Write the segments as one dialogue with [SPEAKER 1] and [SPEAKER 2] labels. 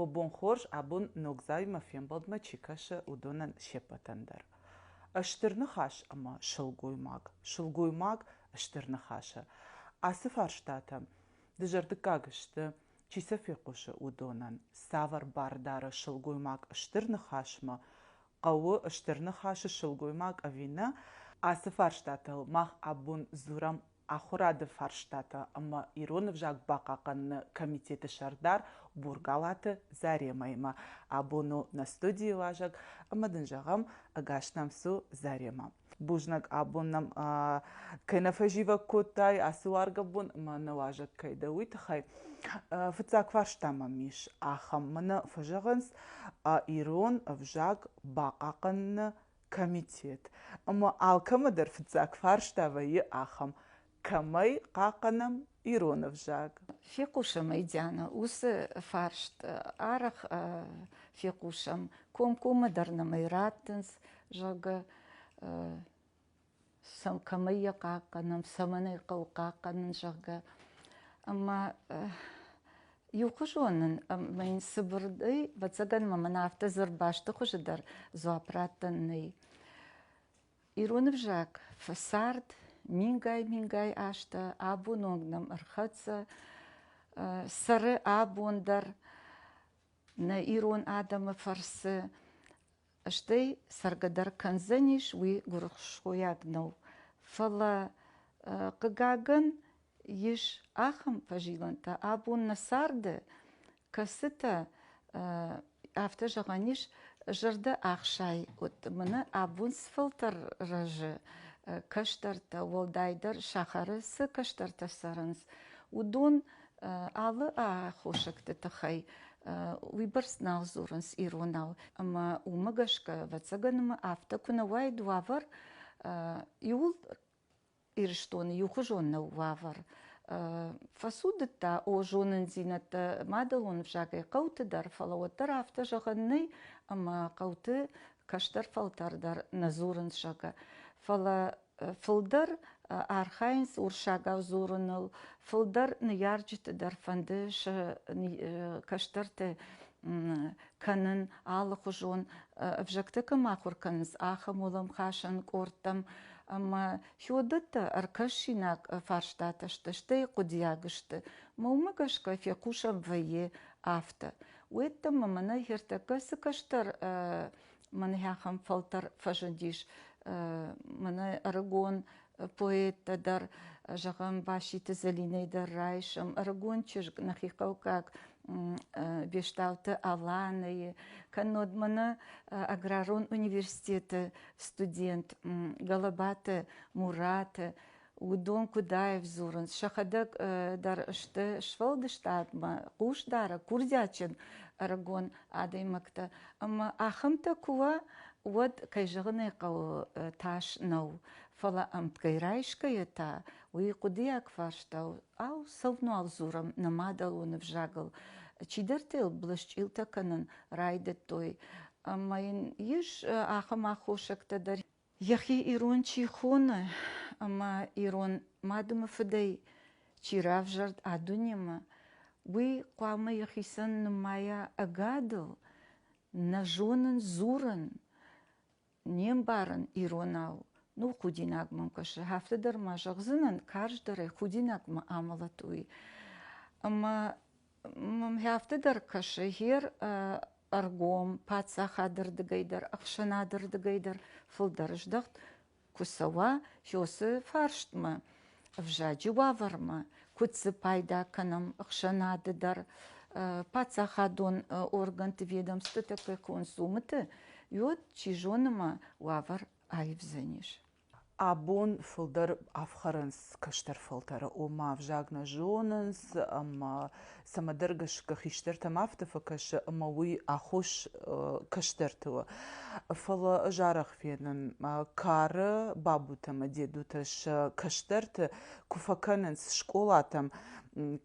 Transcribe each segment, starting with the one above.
[SPEAKER 1] О бон хорз, абон ногдзаумӕ фембӕлдмӕ чи кӕсы, уыдонӕн се ппӕтӕн дӕр. Стыр ныхас ӕмӕ сылгоймаг. Сылгоймаг стыр ныхасы. Ацы фарстатӕм дызӕрдыггаг сты чи сӕ фехъусы, уыдонӕн цавӕр бар дары сылгоймаг стыр ныхасмӕ хъӕуы, стыр ныхасы сылгоймаг ӕви нӕ, ацы фарстатыл мах абон дзурӕм ахуырады фарстатӕ ӕмӕ ирон ӕвзаг бахъахъхъӕныны комитеты сӕрдар Бургалаты Заремӕимӕ. Абон у нӕ студийы уазӕг ӕмӕ дын зӕгъӕм, ӕгас нӕм цу, Заремӕ. бузнаг абон нӕм кӕй нӕ фӕзивӕг кодтай ацы уаргӕ бон ӕмӕ нӕ уазӕг кӕй дӕ уый тыххӕй фыццаг фарста мӕм ис ахӕм мӕнӕ фӕзӕгъынц ирон ӕвзаг бахъахъхъӕныны комитет ӕмӕ алкӕмӕ дӕр фыццаг фарста вӕййы ахӕм кӕмӕй хъахъхъӕнӕм ирон ӕвзаг. Фехъусӕм ӕй,
[SPEAKER 2] Диана, уыцы фарст арӕх фехъусӕм, комкоммӕ дӕр нӕмӕй раттынц, зӕгъгӕ, сӕм кӕмӕй йӕ хъахъхъӕнӕм, цӕмӕн ӕй хъӕуы хъахъхъӕнын, зӕгъгӕ. Ӕмӕ иухуызон нын ӕмӕ йын цыбырдӕй, ӕвӕццӕгӕн ма мын афтӕ дзырд бӕсты хуызы дӕр дзуапп раттӕн нӕй. Ирон ӕвзаг фӕцард мингай-мингай азтӕ, абон онг нӕм ӕрхӕццӕ. Цӕры абон дӕр нӕ ирон адӕмы фӕрцы, стӕй цӕргӕ дӕр кӕндзӕнис уый гуырысхойаг нау. Фӕлӕ, хъыгагӕн, ис ахӕм фӕзилӕнтӕ, абон нӕ царды, кӕцытӕ, афтӕ зӕгъӕн ис, зӕрдӕ ӕхсай уыд. Мӕнӕ абон сфӕлтӕр рӕзы кӕстӕртӕ, уӕлдайдӕр сахары цы кӕстӕртӕ цӕрынц, уыдон алы аххосӕгты тыххӕй уыйбӕрц нал дзурынц иронау. Ӕмӕ уымӕ гӕсгӕ, ӕвӕццӕгӕн ма афтӕ куы нӕ уайд уавӕр, иууыл Ирыстоны иухуызон нӕу уавӕр. Фӕцудыдта, о, зонындзинӕдтӕ мадӕлон ӕвзагӕй хъӕуты дӕр, фӕлӕ уӕддӕр афтӕ зӕгъӕн нӕй, ӕмӕ хъӕуты кӕстӕр фӕлтӕр дӕр нӕ дзурынц зӕгъгӕ. Фӕлӕ фылдӕр архайынц урсагау дзурыныл, фылдӕр ныййарджыты дӕр фӕнды сӕ кӕстӕрты кӕнын алыхуызон ӕвзӕгтӕ кӕм ахуыр кӕнынц, ахӕм уӕлӕмхасӕн къордтӕм. Ӕмӕ Феодатӕ ӕркӕсинаг фарстатӕ сты, стӕй хъуыдиаг сты. Мӕ уымӕ гӕсгӕ фехъусӕн вӕййы афтӕ. Уеддӕмӕ мӕнӕ хиртӕккӕ цы кӕстӕр мӕнӕ ахӕм фӕлтӕр фӕзындис. Мӕнӕ ӕрыгон поэттӕ дӕр, зӕгъӕм, Баситы Зӕлинӕ дӕр райсом ӕрыгон чызг нӕхи хъӕуккаг Бестауты Аланӕйы, кӕннод мӕнӕ аграрон университеты студент Галабаты Мураты, уыдон куыдаев дзурынц. Сӕхӕдӕг дӕр сты сфӕлдыстадмӕ хъусдары, курдиатджын ӕрыгон адӕймӕгтӕ. Ӕмӕ ахӕмтӕ куы уа, уӕд, кӕй зӕгъын ӕй хъӕуы, тас нӕу. Фӕлӕ ӕмтгӕй райсгӕйӕ та уый хъуыдыйаг фарстау, ау, цӕуынуал дзурӕм нӕ мадӕлон ӕвзагыл, чидӕртӕ йыл блӕсчъилтӕ кӕнын райдыдтой. Ӕмӕ йын ис ахӕм аххосӕгтӕ дӕр, йӕхи ирон чи хоны ӕмӕ ирон мадымы фыдӕй чи равзӕрд а дунемӕ, уый хъуамӕ йӕхицӕн нымайа ӕгадыл, нӕ зонын, дзурын, Не мбарын иронау ныл худинаг мӕм кӕсы, афтӕ дӕр ма зӕгъдзынӕн, карздӕрӕй худинагмӕ амӕлӕт уый. Ӕмӕ мӕм афтӕ дӕр кӕсы, гер ӕргом паддзахады рдыгӕй дӕр, ӕхсӕнады рдыгӕй дӕр фылдӕр здӕхт куы цӕуа Хёсы фарстмӕ. ӕвзаджы уавӕрмӕ, куыд дзы пайда кӕнӕм ӕхсӕнады дӕр, паддзахадон органты ведомствотӕ кӕй консумыты, йод, чи зоны ма, уавӕр аивдзӕнис. Абон
[SPEAKER 1] фылдӕр ӕфхӕрынц кӕстӕр фӕлтӕры, ома ӕвзаг нӕ зонынц ӕмӕ цӕмӕдӕр гӕсгӕ хистӕртӕм афтӕ фӕкӕсы ӕмӕ уый аххос кӕстӕрты у. Фӕлӕ ӕз арӕх фенын, кары бабутӕ ӕмӕ дедутӕ сӕ кӕстӕрты куы фӕкӕнынц скъолатӕм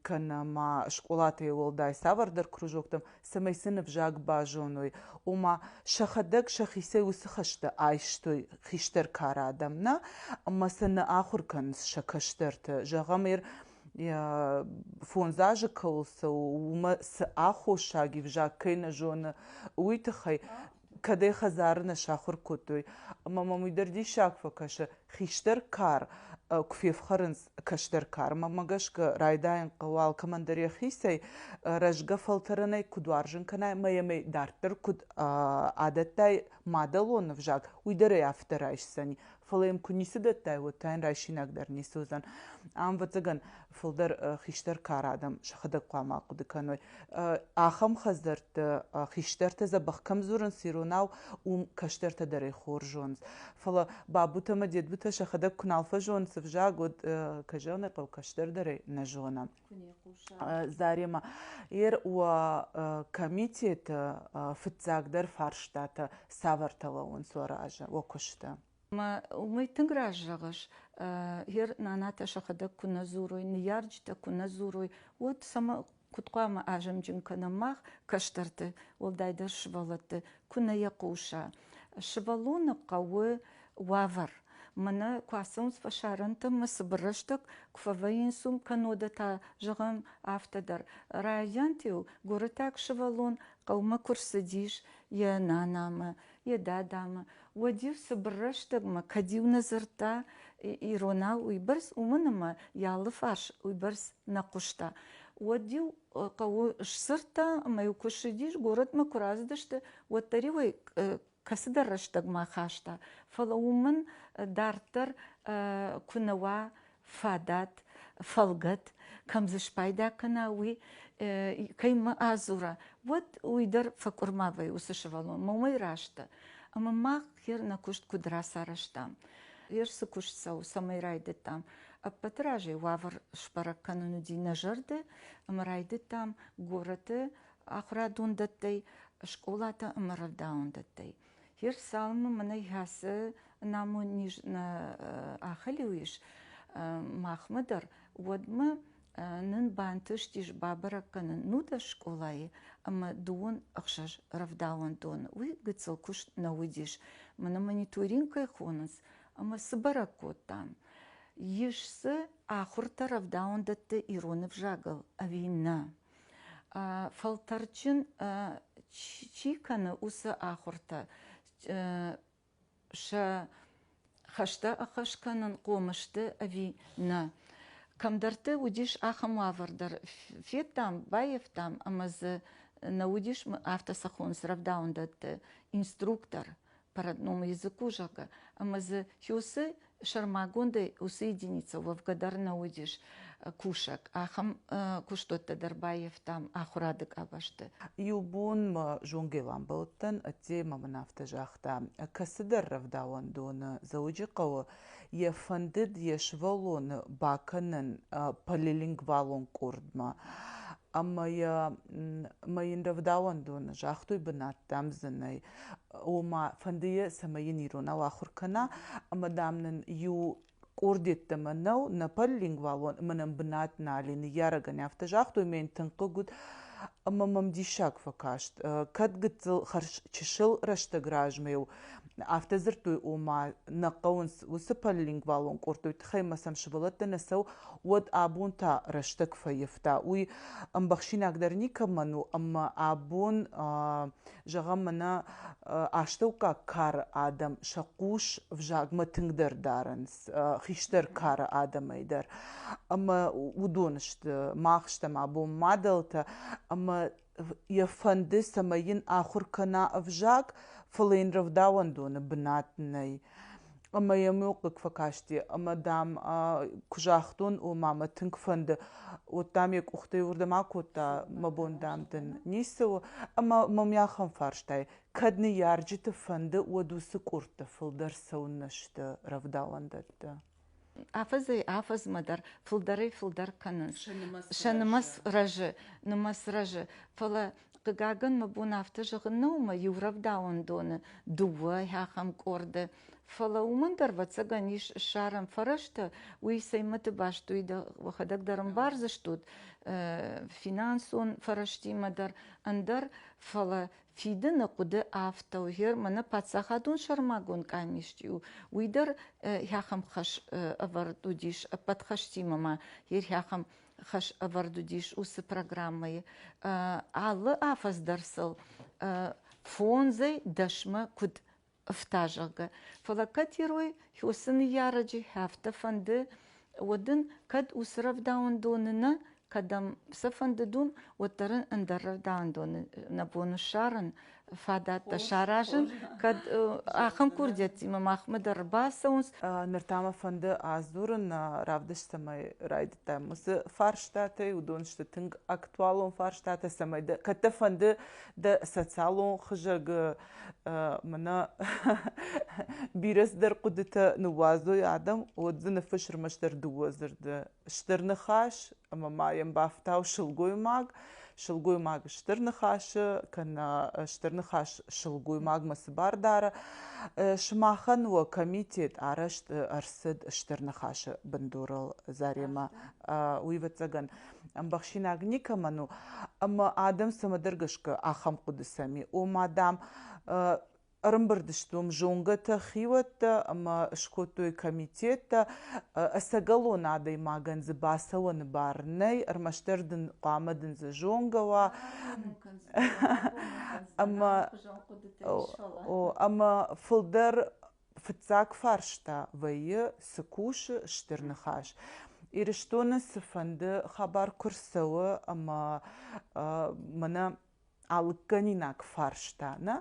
[SPEAKER 1] кӕнӕ ма скъолатӕй уӕлдай цавӕрдӕр кружоктӕм, цӕмӕй сын ӕвзаг базоной, ома сӕхӕдӕг сӕхицӕй уыцы хӕстӕ айстой хистӕр кары адӕм нӕ, ӕмӕ сӕ нӕ ахуыр кӕнынц сӕ кӕстӕрты. Зӕгъӕм, ир фондз азы кыл сыл уымӕ цы аххосаг ивзаг кӕй нӕ зоны, уый тыххӕй кӕдӕй хӕдзары нӕ сахуыр кодтой. Ӕмӕ мӕм уый дӕр диссаг фӕкӕсы. Хистӕр кар куы фефхӕрынц кӕстӕр кармӕ гӕсгӕ, райдайын хъӕуы алкӕмӕн дӕр йӕхицӕй рӕзгӕ фӕлтӕрӕнӕй куыд уарзын кӕнай, мӕ ӕмӕ дарддӕр куыд адӕттай мадӕлон ӕвзаг, уый дӕр ӕй афтӕ райсдзӕни. фӕлӕ йӕм куы ницы дӕттай, уӕд та йын райсинаг дӕр ницы уыдзӕн. Ам, ӕвӕццӕгӕн, фылдӕр хистӕр кар адӕм сӕхӕдӕг хъуамӕ ахъуыды кӕной. Ахӕм хӕдзӕртты хистӕртӕ дзӕбӕх кӕм дзурынц иронау, уым кӕстӕртӕ дӕр ӕй хорз зонынц. Фӕлӕ бабутӕ ӕмӕ дедбутӕ сӕхӕдӕг куы нал фӕзоны цы взаг, уӕд, кӕй зӕгъын ӕй хъӕуы, кӕстӕрдӕрӕй нӕ зонӕм. Заремӕ, ер уӕ комитеты фыццагдӕр фарстатӕ цавӕртӕ лӕууынц уӕ разы, уӕ куысты? Уый
[SPEAKER 2] тынг раст зӕгъыс. Ер нанатӕ сӕхӕдӕг куы нӕ дзурой, ныййарджытӕ куы нӕ дзурой, уӕд сӕмӕ куыд хъуамӕ азымджын кӕнӕм мах, кӕстӕрты, уӕлдайдӕр сывӕллӕтты, куы нӕ йӕ хъуса? Сывӕллоны хъӕуы уавӕр. Мӕнӕ куы ацӕуынц фӕсарӕнтӕм, мы цыбыр рӕстӕг куы фӕвӕййынц уым, кӕннод та, зӕгъӕм, афтӕ дӕр. Райдианты-иу гуырытӕг сывӕллон хъӕумӕ куы рцыдис йӕ нанамӕ, йӕ дадамӕ, уӕд-иу цыбыр рӕстӕгмӕ, кӕд-иу нӕ дзырдта иронау уыйбӕрц, уымӕн ӕмӕ йӕ алы фарс уыйбӕрц нӕ хъуыста, уӕд-иу хъӕуы сдзырдта ӕмӕ-иу куы ссыдис, горӕтмӕ куы рацыдысты, уӕддӕр-иу ӕй кӕцыдӕр рӕстӕгмӕ хаста, фӕлӕ уымӕн дарддӕр куы нӕ уа фадат, фӕлгӕт, кӕм дзы спайда кӕна, уый кӕимӕ адзура, уӕд уый дӕр фӕкъуырма вӕййы уыцы сывӕллонмӕ, уымӕй рӕзты. Ӕмӕ мах гер нӕ куыст куыд рацарӕзтам, гер цы куыст цӕуы, цӕмӕй райдыдтам, ӕппӕты разӕй уавӕр сбӕрӕг кӕнын уыди нӕ зӕрды, ӕмӕ райдыдтам горӕты ахурадондӕттӕй, скъолатӕ ӕма рӕвдауӕндӕттӕй. Е рцалынмӕ мӕнӕ хӕцы намон низ нӕ ахӕлиу ис махмӕ дӕр, уӕдмӕ нын бантыстис бабӕрӕг кӕнын нудӕс скъолайы ӕмӕ дыууын ӕхсӕз рӕвдауӕндоны. Уый гыццыл куыст нӕ уыдис. Мӕнӕ мониторингӕй хонынц ӕмӕ цы бӕрӕг кодтам? Ис дзы ахуыртӕ рӕвдауӕндӕтты ирон ӕвзагыл ӕви нӕ? Фӕлтӕрджын чи кӕны, уыцы ахуыртӕ сӕ хӕстӕ ӕххӕст кӕнын хъомы сты ӕви нӕ. Кӕмдӕрты уыдис ахӕм уавӕр дӕр. Федтам, баййӕфтам ӕмӕ дзы нӕ уыдис афтӕ цӕххон рӕвдауӕндӕтты инструктор, Пород номы языку, зӕгъгӕ, ӕмӕ дзы Хёсы сӕрмагондӕй уыцы единицӕ уӕвгӕ дӕр нӕ уыдис кусӕг. Ахӕм куыстуӕттӕ дӕр баййӕфтам ахуырады къабӕзты. Иу бон мӕ
[SPEAKER 1] зонгӕвӕмбӕлттӕн ӕддеймӕ мын афтӕ загъта, кӕцыдӕр рӕвдауӕндоны Дзӕуджыхъӕуы йӕ фӕндыд йӕ сывӕллоны бакӕнын полилингвалон къордмӕ. ӕмӕ йӕ мӕ йын рӕвдауӕндоны загътой бынӕттӕм зынӕй ома фӕндыйы цӕмӕй йын иронау ахуыр кӕна ӕмӕ дам нын иу къордеттӕмӕ нӕу нӕ полилингвалон ӕмӕ нӕм бынат нали ныййарӕгӕн афтӕ загътой мӕ йын тынг хъыг уыд ӕмӕ мӕм диссаг фӕкаст кӕд гыццыл хӕрз чысыл рӕстӕг размӕ у Афтӕ дзырдтой, ома нӕ хъӕуынц уыцы полилингвалон къорд, уый тыххӕй мӕ сӕм сывӕллӕттӕ нӕ цӕуы, уӕд абон та рӕстӕг фӕивта. Уый ӕмбӕхсинагдӕр никӕмӕн у, ӕмӕ абон, зӕгъӕм, мӕнӕ астӕуккаг кары адӕм сӕ хъус взагмӕ тынгдӕр дарынц, хистӕр кары адӕмӕй дӕр. Ӕмӕ уыдон сты, мах стӕм абон мадӕлтӕ, ӕмӕ йӕ фӕнды, цӕмӕй йын ахуыр кӕна ӕвзаг, фӕлӕ йын рӕвдауӕндоны бынат нӕй. Ӕмӕ йӕм иу хъыг фӕкасти, ӕмӕ, дам, куы загътон, о, мамӕ, тынг фӕнды, уӕд, дам, йӕ къухтӕй уырдӕм акодта, мӕ бон, дам, дын ницы у. Ӕмӕ мӕм йӕ ахӕм фарстайы, кӕд ныййарджыты фӕнды, уӕд уыцы къордты фылдӕр цӕуыннӕ сты рӕвдауӕндӕтты? афӕдзӕй
[SPEAKER 2] афӕдзмӕ дӕр фылдӕрӕй фылдӕр кӕнынц сӕ нымӕц рӕзы нымӕц рӕзы фӕлӕ хъыгагӕн мӕ бон афтӕ зӕгъын нӕу ӕмӕ иу рӕвдауӕн доны дыууӕ ахӕм къорды фӕлӕ уымӕн дӕр ӕвӕццӕгӕн ис ссарӕн фӕрӕзтӕ уый сӕймӕты баст уый уӕхӕдӕг дӕр ӕмбардзыстут финансон фӕрӕзтимӕ дӕр ӕндӕр фӕлӕ фидыны хъуыды афтӕ у германы паддзахадон сӕрмагонд къамист у уый дӕр хӕхам хӕс ӕвӕрд уыдис ӕппӕт хӕстимӕ ма хӕхам хӕс ӕвӕрд уыдис уыцы программӕйы алы афӕдз дӕр сыл фондзӕй дӕсмӕ куыд ӕфта, зӕгъгӕ. Фӕлӕ кӕтирой хёсы ныййарӕджы афтӕ фӕнды, уӕд ын кӕд уыцы рӕвдауӕндоны нӕ, кӕдӕм сӕ фӕнды дон, уӕддӕр ын ӕндӕр рӕвдауӕндоны нӕ бон у ссарын, фадӕттӕ саразын, кӕд ахӕм курдиӕттимӕ махмӕ дӕр ӕрбацӕуынц. Ныр та мӕ фӕнды
[SPEAKER 1] адзурын равдыстимӕ. Райдыдтам уыцы фарстатӕй, уыдон сты тынг актуалон фарстатӕ, цӕмӕй дӕ кӕд дӕ фӕнды дӕ социалон хызӕг мӕнӕ бирӕ цыдӕр хъуыдытӕ ныууадзой адӕм, уӕд дзы ныффысс ӕрмӕстдӕр дыууӕ дзырды. Стыр ныхас ӕмӕ ма йӕм бафтау сылгоймаг. Сылгоймаг стыр ныхасы, кӕнӕ стыр ныхас сылгоймагмӕ цы бар дары. Сымахӕн уӕ комитет арӕзт ӕрцыд стыр ныхасы бындурыл Заремӕ. Уый ӕвӕццӕгӕн ӕмбӕхсинаг никӕмӕн у ӕмӕ адӕм цӕмӕдӕр гӕсгӕ ахӕм хъуыдысӕм и ома дам ӕрымбырд сты уым зонгӕтӕ хиуӕттӕ ӕмӕ скодтой комитеттӕ ӕцӕгӕлон адӕймагӕн дзы бацӕуӕны бар нӕй ӕрмӕстдӕр дын хъуамӕ дын дзы зонгӕ уа ӕмӕ ӕмӕ фылдӕр Фыццаг фарста вӕййы, цы кусы Стыр Ныхас? Ирыстоны цыфӕнды хабар куы рцӕуы ӕмӕ мӕнӕ алыггӕнинаг фарста, нӕ,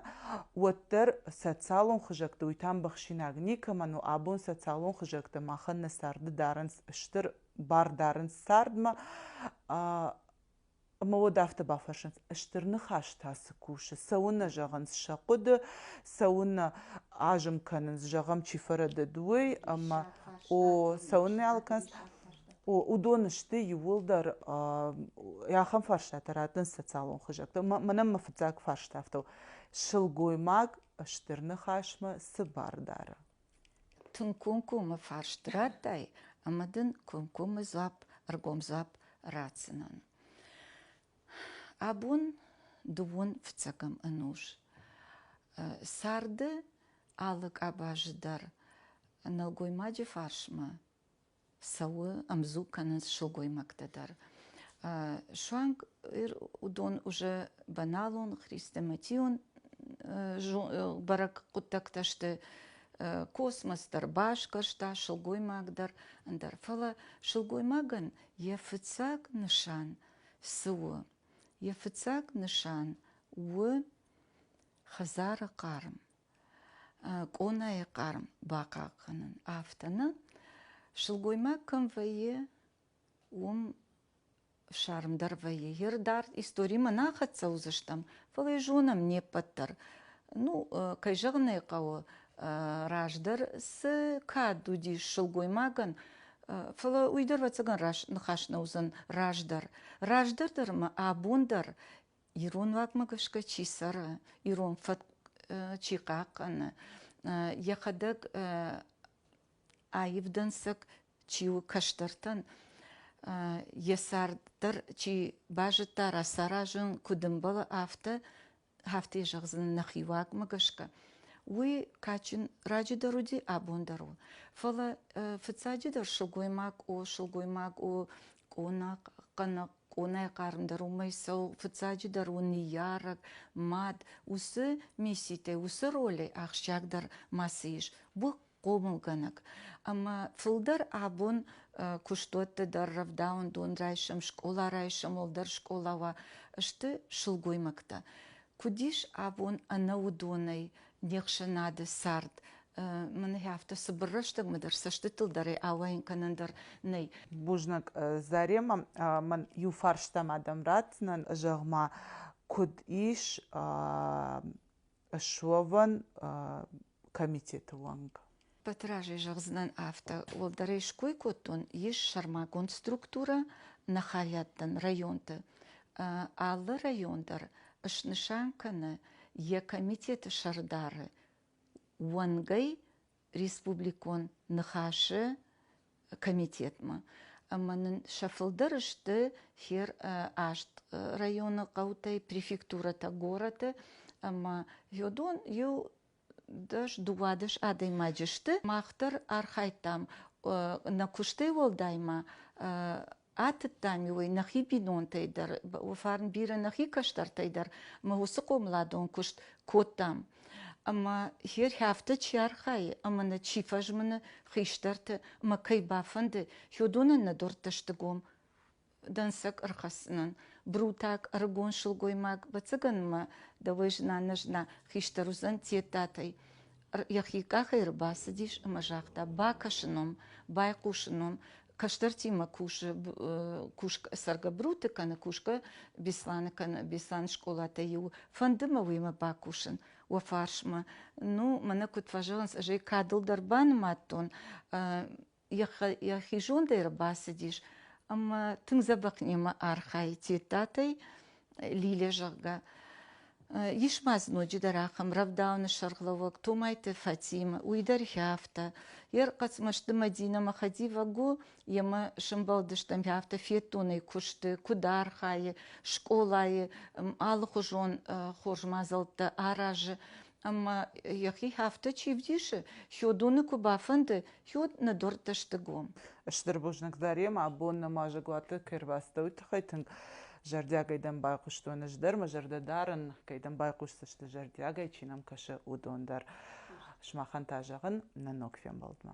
[SPEAKER 1] уӕддӕр социалон хызӕгты, уый та ӕмбӕхсинаг никӕмӕн у, абон социалон хызӕгтӕ махӕн нӕ царды дарынц стыр бар дарынц цардмӕ, Ӕмӕ уӕд афтӕ бафӕрсынц, стыр ныхас та цы кусы? Цӕуыннӕ зӕгъынц сӕ хъуыды, цӕуыннӕ азым кӕнынц, зӕгъӕм, чи фӕрӕдыд, уый, ӕмӕ о, цӕуыннӕ алкӕнц. Уыдон сты иууылдӕр ахӕм фарстатӕ раттынц социалон хызӕгтӕ. Мӕнӕн мӕ фыццаг фарст афтӕ у, сылгоймаг стыр ныхасмӕ цы бар дары? Тынг
[SPEAKER 2] комкоммӕ фарст радтай ӕмӕ дын комкоммӕ дзуапп, ӕргом дзуапп ратдзынӕн. Абон дыууын фыццӕгӕм ӕнус. Сӕрды алы къабазы дӕр нӕлгоймаджы фарсмӕ цӕуы, ӕмдзуг кӕнынц сылгоймӕгтӕ дӕр. Суанг уыдон уже баналон, хрестоматион бӕрӕг хъуыддӕгтӕ сты, космос дӕр басгӕрста, сылгоймаг дӕр ӕндӕр. Фӕлӕ сылгоймагӕн йӕ фыццаг нысан цы у? Йӕ фыццаг нысан у хӕдзары хъарм. къонайы хъарм бахъахъхъӕнын афтӕ нӕ сылгоймаг кӕм вӕййы уым ссармдӕр вӕййы йе рдард историмӕ нӕ хӕццӕ уыдзыстӕм фӕлӕ йӕ зонӕм не ппӕт дӕр ну кӕй зӕгъын ӕй хъӕуы раздӕр цы кад уыдис сылгоймагӕн фӕлӕ уый дӕр ӕвӕццӕгӕн ныхас нӕ уыдзӕн раздӕр раздӕр дӕр ӕмӕ абон дӕр Ирон уагмӕ гӕсгӕ чи цӕры, ирон фӕтк чи хъахъхъӕны, йӕхӕдӕг аив дӕнцӕг чи у кӕстӕртӕн, йӕ цард дӕр чи базыдта, рацаразын куыд ӕмбӕлы, афтӕ, афтӕ йӕ зӕгъдзынӕн нӕхи уагмӕ гӕсгӕ. Уый кадджын раджыдӕр уыди, абон дӕр у. Фӕлӕ фыццаджыдӕр сылгоймаг у, сылгоймаг у къонахъ, хъанахъ, къонайы хъармдӕр уымӕй цӕуы, фыццаджыдӕр у ныййарӕг, мад. Уыцы мисситӕй, уыцы ролӕй ахсджиагдӕр мацы ис. Бу хъомылгӕнӕг. Ӕмӕ фылдӕр абон куыстуӕтты дӕр рӕвдауӕндон райсӕм, скъола райсӕм, уӕлдӕр скъола уа, сты сылгоймӕгтӕ. Куыд ис абон ӕнӕуыдонӕй не хсӕнады цард, мын афтӕ цыбыр рӕстӕгмӕ дӕр цӕстытыл дарӕй ауайын кӕнӕн дӕр нӕй. Бузныг,
[SPEAKER 1] Заремӕ. Мӕн иу фарстам адӕм ратдзынӕн, зӕгъ-ма, куыд ис суӕвӕн комитеты уӕнг? Батыразӕй
[SPEAKER 2] зӕгъдзынӕн афтӕ, уӕлдӕрӕй ской кодтон, ис сӕрмагонд структурӕ нӕ хайадтӕн районты. Алы район дӕр снысан кӕны йӕ комитеты сӕрдары уӕнгӕй республикон ныхасы комитетмӕ ӕмӕ нын сӕ фылдӕр сты хер аст районы хъӕутӕй префектурӕтӕ горӕты ӕмӕ йодон иу дӕс дыууадӕс адӕймаджы сты мах дӕр архайдтам нӕ куыстӕй уӕлдай ма Атыдтам-иу ӕй нӕхи бинонтӕй дӕр, фарн бирӕ нӕхи кӕстӕртӕй дӕр, мы уыцы хъомыладон куыст кодтам. Ӕмӕ хер хӕфты чи архайы ӕмӕ нӕ чи фӕзмыны хистӕрты мӕ кӕй бафӕнды, хёдонӕн нӕ дуртты сты гом дӕнцӕг ӕрхӕссынӕн. Брутак, ӕрыгон сылгоймаг, бӕцӕгӕнмӕ дӕуӕй зына-нӕзына хистӕр уыдзӕн Тедтатӕй. йӕхи къахӕй ӕрбацыдис ӕмӕ загъта, бакӕсы ном, байхъусы ном, кӕстӕртимӕ кусы, кусгӕ, цӕргӕ Бруты кӕны, кусгӕ Бесланы кӕны, Бесланы скъолатӕй иу. Фӕнды мӕ уемӕ бакусын уӕ фарсмӕ. Ну, мӕнӕ куыд фӕзӕгъынц, ӕз ӕй кадыл дӕр банымадтон, йӕхи зондӕй ӕрбацыдис ӕмӕ тынг дзӕбӕх немӕ архайы Тедтатӕй Лилия зӕгъгӕ. Ис ма дзы ноджыдӕр ахӕм рӕвдауыны сӕргълӕууӕг Томайты Фатимӕ, уый дӕр хӕфтӕ. Йе рхъӕцмӕзты Мадинӕмӕ хӕдивӕг у, йемӕ сӕмбӕлдыстӕм, хӕфтӕ феддонӕй куысты, куыд архайы, скъолайы, алыхуызон хорз мадзӕлттӕ аразы. Ӕмӕ йӕхи афтӕ чи вдисы, хиуыдоны куы бафӕнды, хиуд ныддуӕрттӕ сты гом. Стыр бузныгдарӕм
[SPEAKER 1] абон нӕма зӕгуаты кӕй рбацыдтӕ, уый тыххӕй тынг зӕрдиагӕй дӕм байхъуыстон. Ӕз дӕр мӕ зӕрдӕ дарын, кӕй дӕм байхъусдзысты зӕрдиагӕй, чи нӕм кӕсы, уыдон дӕр. Сымахӕн та зӕгъын, нӕ ног фембӕлдмӕ.